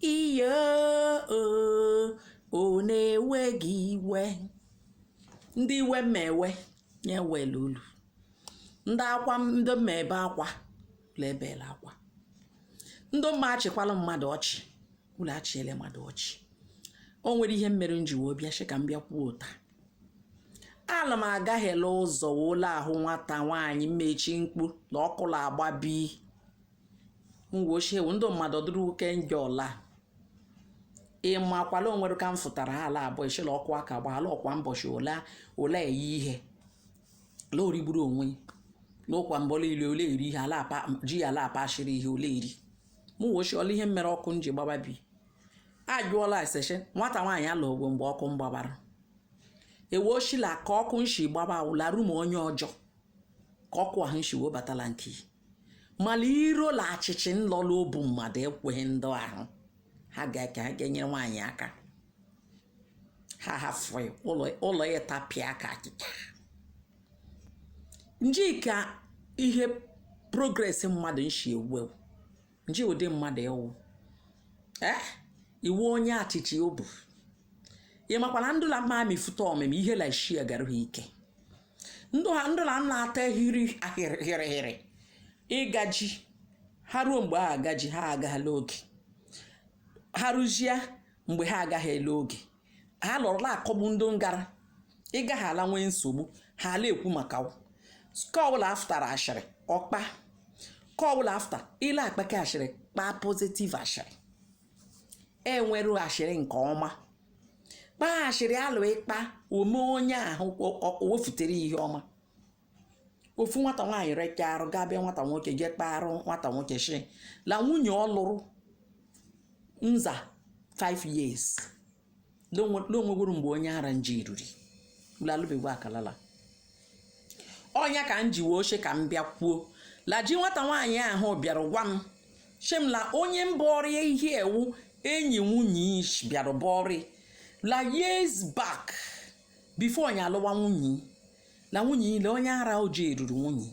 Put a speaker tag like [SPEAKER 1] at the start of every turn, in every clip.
[SPEAKER 1] Ihe o o na-ewe gị iwe ndị iwe m ewe ya ewela ulu ndị akwa m ndị m ebe akwa ulu ebela akwa ndị mma achịkwala mmadụ ọchị ulu achịele mmadụ ọchị o nwere ihe mere m ji wee bịa shi ka m bịa kwuo taa ala m agaghị la ụzọ wee la-ahụ nwata nwaanyị mmechi mkpu la ọkụ la-agba bi ngwa ochie wụ ndị mmadụ dịrị uke njọ ọla ị makwa la o nwere ka m fụtara ha ala abụọ echela ọkụ aka gba ala ọkwa mbọchị ole ole eyi ihe ala origburu onwe n'ụkwa mbọla ile ole eri ihe ala apa ji ya ala akpa ashịrị ihe ole eri mụ wochi ọla ihe mere ọkụ m ji gbaba bi a jụọla eseche nwata nwaanyị ala ogwe mgbe ọkụ m gbabara e wee shi la ka ọkụ nshi gbaba awụla rum onye ọjọọ ka ọkụ ahụ nshi webatala nke mala iro la achịchị nlọ la obu mmadụ ekweghị ndị ahụ ha ga-eke ha ga-enyere nwaanyị aka ha hafụ ụlọ ụlọ ya tapịa ka akịka nji ka ihe progress mmadụ nshi ewu ewu nji ụdị mmadụ ewu eh ị wụ onye achịchị obu ị makwa na ndụ la mma amịfụta ọmịmị ihe la shi agarụ ha ike ndụ ha ndụ na nna ata hiri ahịrịhịrịhịrị ịgaji ha ruo mgbe ha agaji ha agala oge ha rụzie mgbe ha agaghị ele oge ha lọrọ la-akọgbu ndị ngara ịgaghị ala nwee nsogbu ha ala ekwu maka ọ kawụ la afụtara ashịrị ọkpa kawụ la afụta ị la-akpake ashịrị kpaa positive ashịrị e nweru ashịrị nke ọma kpaa ashịrị alụ ị kpaa o mee onye ahụ o wefutere ihe ọma ofu nwata nwaanyị recha arụ gaa be nwata nwoke jee kpaarụ nwata nwoke shi la nwunye ọ lụrụ nza 5 years n'onwegwuru mgbe onye ara nji eruru lalụbegwu akalala ọnya ka m ji wee shi ka m bịa kwuo la ji nwata nwaanyị ahụ bịara gwa m shi m la onye mba ọrịa ihe ewu enyi nwunye ish bịara bụ ọrịa la years back before onye alụwa nwunye la nwunye i la onye ara oji eruru nwunye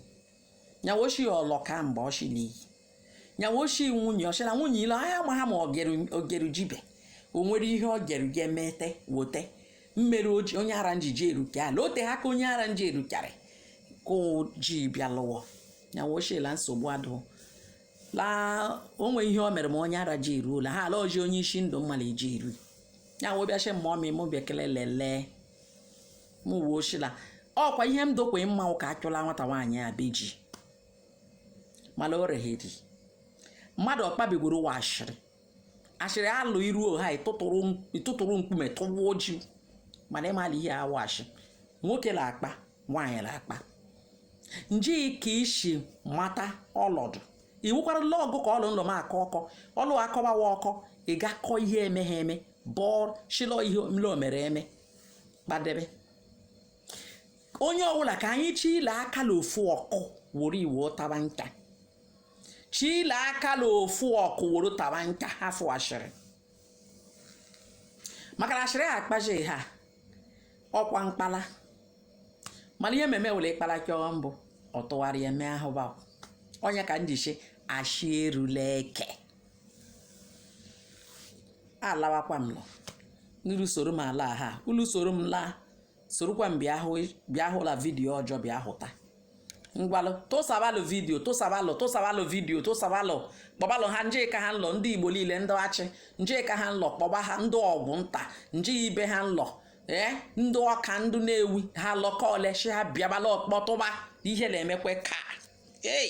[SPEAKER 1] nya wo shi ọlọka mgbe ọshi n'iyi nya wo shi nwunye ọshi na nwunye ile anya ma ha ma ogeru jibe o nwere ihe ọ geru ga emete wote mmere oji onye ara njiji eruke ala ote ha ka onye ara nji erukara ka ji bịa lụwa nya wo shi la nsogbu adụ la o nwe ihe o mere ma onye ara ji eruola ha ala oji onye isi ndụ mmala eji eru ya wee bịa shi mma ọmị mụ bịa kele lelee mụwa shị la ọkwa ihe m dokwe mma ụka achụla nwata nwaanyị a be ji mana o regheri mmadụ ọ kpabigoro ụwa ashịrị ashịrị alụ iru oha ịtụtụrụ mkpume tụwa oji mana ị mala ihe a wụ ashị nwoke na-akpa nwaanyị na-akpa nje ka isi mata ọlọdụ iwukwara ụlọ ọgụ ka ọlụ ndụ m akọ ọkọ ọlụ akọbawa ọkọ ị ga-akọ ihe emeghe eme bọọ shilọ ihe mle o mere eme kpadebe onye ọbụla ka anyị chịlie aka la ofu ọkụ were iwe taba nka chịlie aka la ofu ọkụ were taba nka hafụ ashịrị maka na ashịrị akpaji ha ọkwa mkpala mana ihe mmemme were ịkpala kịọ mbụ ọ tụgharịa eme ahụba onye ka m ji shi ashị erula eke alawakwa m nọ n'iru soro m ala ha ulu soro m laa sorokwa m bịa hụ bịa hụla vidiyo ọjọọ bịa hụta ngwalụ tụsabalụ vidiyo tụsabalụ tụsabalụ vidiyo tụsabalụ kpọbalụ ha nje ka ha nlọ ndị igbo niile ndị achị nje ka ha nlọ kpọba ha ndị ọgwụ nta nje ibe ha nlọ ee ndị ọka ndị nnewi ha lọkọ ole shị ha bịabala ọkpọtụba ihe na-emekwe ka ei